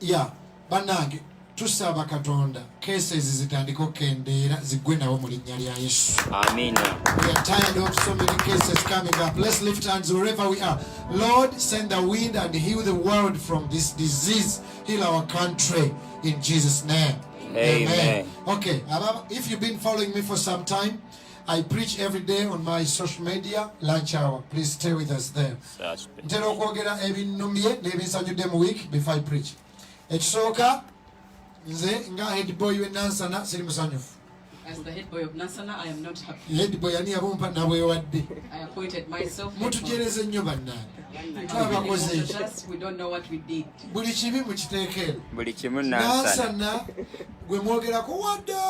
ya banange tusaba katonda cases zitandika okukendeera ziggwe nawo mu linnya lya yesu amina we are tired of so many cases coming up let's lift hands wherever we are lord send the wind and heal the world from this disease heal our country in jesus name amen, amen. okay if you've been following me for some time i preach every day on my social media lunch hour please stay with us there ntera okwogera ebinnumye n'ebinsanyudde mu week before i preach ekisooka nze nga head boy we nansana siri musanyufu head boy ani yabumpa nabwewadde mutujereze nnyo bannange twabakoze buli kibi mukiteekeero nansana gwe mwogerako wadda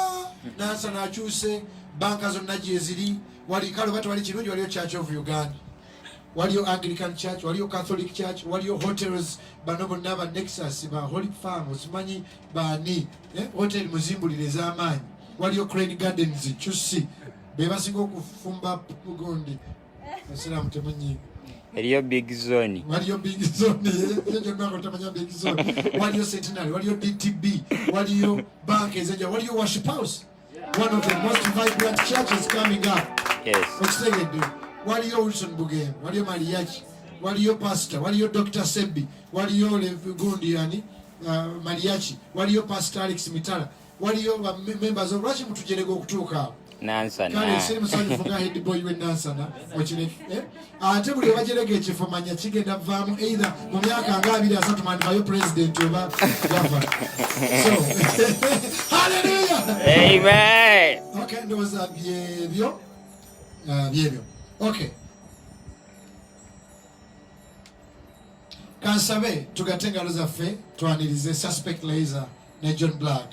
nansana akyuse banka zonna gyeziri wali kale oba tewali kirungi waliyo church of uganda waliyo Anglican Church, waliyo Catholic Church, waliyo hotels. Bano bonna ba Nexus, ba Holy Farm, osimanyi baani eh? hotel muzimbulire ez'amaanyi. Waliyo Crane Gardens, Chusi, be basinga okufumba gundi. Basiraamu temunyiiga. Eriyo big zone. Waliyo big zone. Ekyo kyonna nga otamanya big zone. Waliyo Centenary, waliyo DTB, waliyo bank ezenjawulo, waliyo Worship House. one of the most vibrant churches coming up yes okitegedde waliyo wilson bugembe waliyo maliyaki waliyo pastor waliyo dr sebbi waliyo gundi yani uh, maliyaki waliyo pastor alex mitala waliyo members lwaki mutujerega okutuuka awo nansana kale siri musanyufu nga head boy we nansana okireke eh? ate buli obajerega ekifo manya kigenda vaamu eitha mu myaka nga abiri asatu mandivayo president oba gava so haleluya amen okay ndowooza byebyo uh, byebyo okay kansabe tugate engalo zaffe twanirize suspect laser ne john black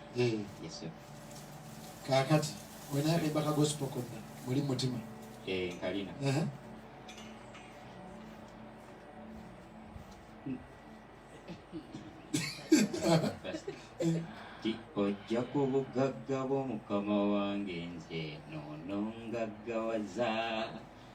Eh. kakati wenayabemba kagosipo konna muli mutima eh, nkalina ojja ku bugagga bw'omukama wange nze noonongaggawaza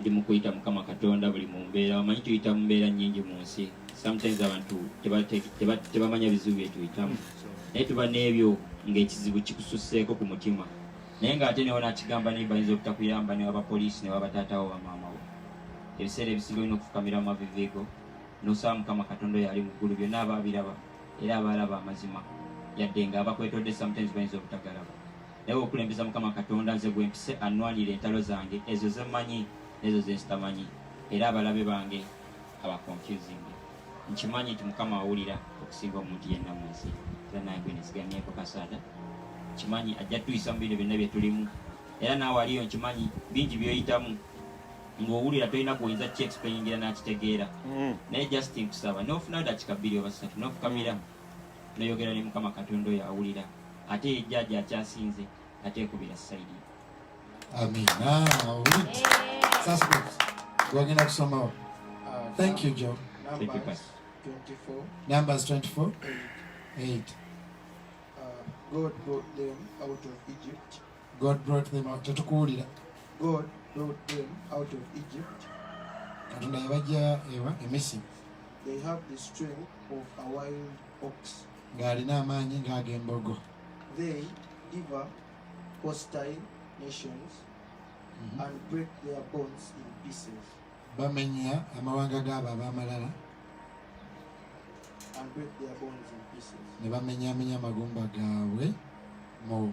ndi mukuyita mukama katonda buli mumbeera wamanyi tuyita mumbeera nyingi mu nsi sometimes abantu tebamanya bizibu byetuyitamu naye tuba n'ebyo ngaekizibu kikususeeko ku mutima naye ngaate newo nakigamba naye bayinza obutakuyamba newabapoliisi newabataatawo bamaamawo ebiseera ebisinga olina okufukamira mu mavivigo nosaba mukama katonda oyo ali mu ggulu byonna aba abiraba era abaalaba amazima yadde nga abakwetodde sometimes bayinza obutagalaba naye okulembeza mukama katonda nze gwempise annwanire entalo zange ezo zemmanyi nezo zensitamanyi era abalabe bange abaconfusing nkimanyi nti mukama awulira okusinga omuntu yenna mu nsi era nange nesigamyeko kasaada nkimanyi ajja tuyisa mu bino byonna byetulimu era naawe aliyo nkimanyi bingi byoyitamu ng'owulira tolina gwoyinza ki explainingira n'akitegeera mm. naye just nkusaba nofunayo dakika bbiri oba satu nofukamira noyogera ne mukama katonda oyo awulira ate yejjaaja akyasinze ate ekubira saidi amina wagenda kusomawo thank you jo numbers 24 8 uh, god brought them out of egypt God brought them out. Tetukuwulira. God brought them out of Egypt. Katonda yabajja ewa e Misiri. They have the strength of a wild ox. Ng'alina amaanyi ng'ag'embogo. They devour hostile nations mm -hmm. and break their bones in pieces. Bamenya amawanga g'abo ab'amalala. And break their bones in pieces. Ne bamenyaamenya amagumba gaabwe mu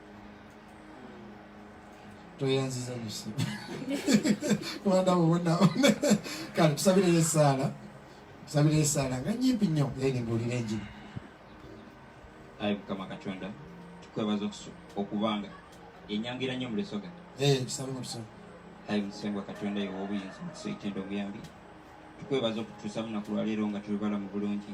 toyanziza nyusi kubanda bubona kale tusabireyo esaala tusabireyo esaala nga nyimpi nnyo then mbuulira enjiri ayi mukama katonda tukwebaza okubanga enyangira nnyo mulesoga tusabe mutusoga ayi musengwa katonda yewa obuyinza mukiso ekitendo omuyambi tukwebaza okutuusa munaku lwaleero nga tuli balamu bulungi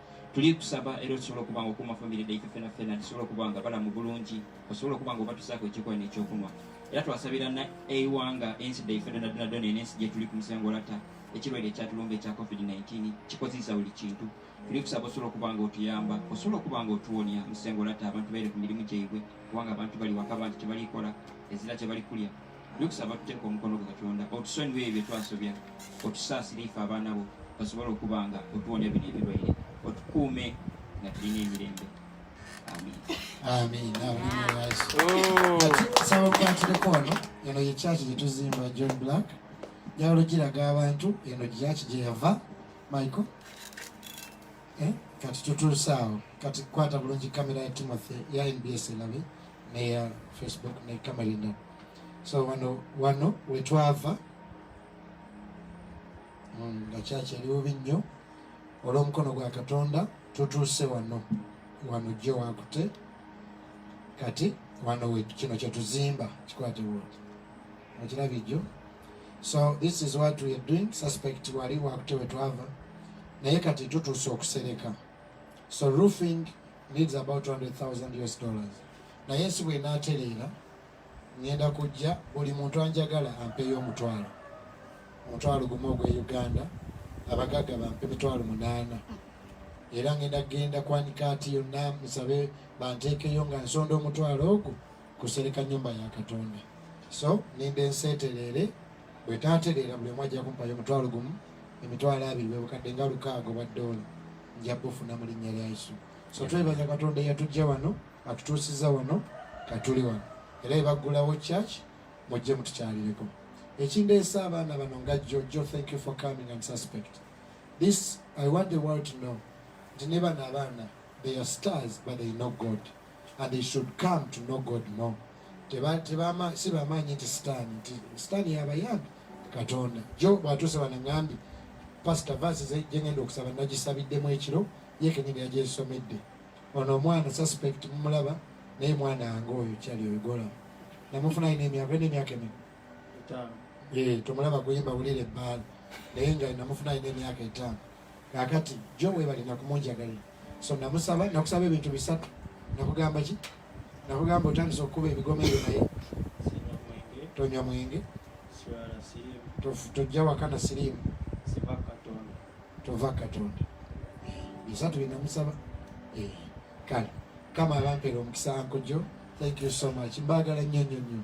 tuli kusaba era osobola okuba nga okuuma famire daife fena fena tusobola okuba nga balamu bulungi osobola okuba nga obatusaako ekyokuba nekyokunwa era twasabira na eiwanga ensi daife donadonadona eno ensi gyetuli ku musango olata ekirwadde ekyatulumba ekya covid-19 kikozesa buli kintu tuli kusaba osobola okuba nga otuyamba osobola okuba nga otuwonya musango olata abantu baire ku mirimu gyaibwe kubanga abantu bali waka bantu tebalikola ezira tebalikulia Tukusaba tuteeka omukono gwa Katonda otusonyiwe ebyo twasobya, otusaasire ife abaana bo basobole okuba nga otuwonya bino ebirwaire, otukuume nga tulina emirembe. Amiina. Nsaba okukwatuleko wano, eno ye kyaki gye tuzimba John Black njawulo giraga abantu eno gyaki gye yava Michael eh? kati tutuuse awo kati kwata bulungi kamera ya Timothy ya NBS elabe neya facebook ne kamalina so wano wano wetwava mm, nga kyaki eri bubi nnyo olw'omukono gwa katonda tutuuse wano wano jjo wakute kati wano kino kyetuzimba kikwate wodi okirabye jjo so this is what weare doing suspect wali wakute wetwava naye kati tutuuse okusereka so roofing needs about 200,000 US dollars naye ensi bwenatereera ngenda kujja buli muntu anjagala ampeeyo omutwalo omutwalo gumu ogwe uganda abagagga bampe mitwalo munaana era ngenda kugenda kwanika ati yonna musabe banteekeyo nga nsonda omutwalo ogwo kusereka nyumba ya katonda so ninda ensi etereere bwetatereera buli omu ajja kumpayo omutwalo gumu emitwalo abiri bwebukadde nga lukaago bwa doola nja bufuna mu linnya lya yesu so twebaza katonda eyatujja wano atutuusiza wano katuli wano era ebaggulawo church mujje mutukyalireko ekindeesa abaana bano nga jo jo thank you for coming and suspect this i want the world to know nti ne bano abaana they are stars but they know god and they should come to know god more tebama si bamaanyi nti sitaani nti sitaani yabayambi katonda jo bwatuuse banang'ambi pasita vaasi zejengenda okusaba nagisabiddemu ekiro yekenyini yagyesomedde ono omwana suspect mumulaba naye mwana wange oyo kyali oyogola namufuna alina emyaka ena emyaka emi tomulaba kuyimba bulire ebbaala naye nga namufuna alina emyaka etaano kakati jo webale nakumunjagalira so namusaba nakusaba ebintu bisatu nakugamba ki nakugamba otandisa okukuba ebigoma ebyo naye tonywa mwenge tojja waka na siriimu tova katonda bisatu binamusaba eh, kale kama abampera omukisa nkojo thank you so much mbagala nnyo nnyo nnyo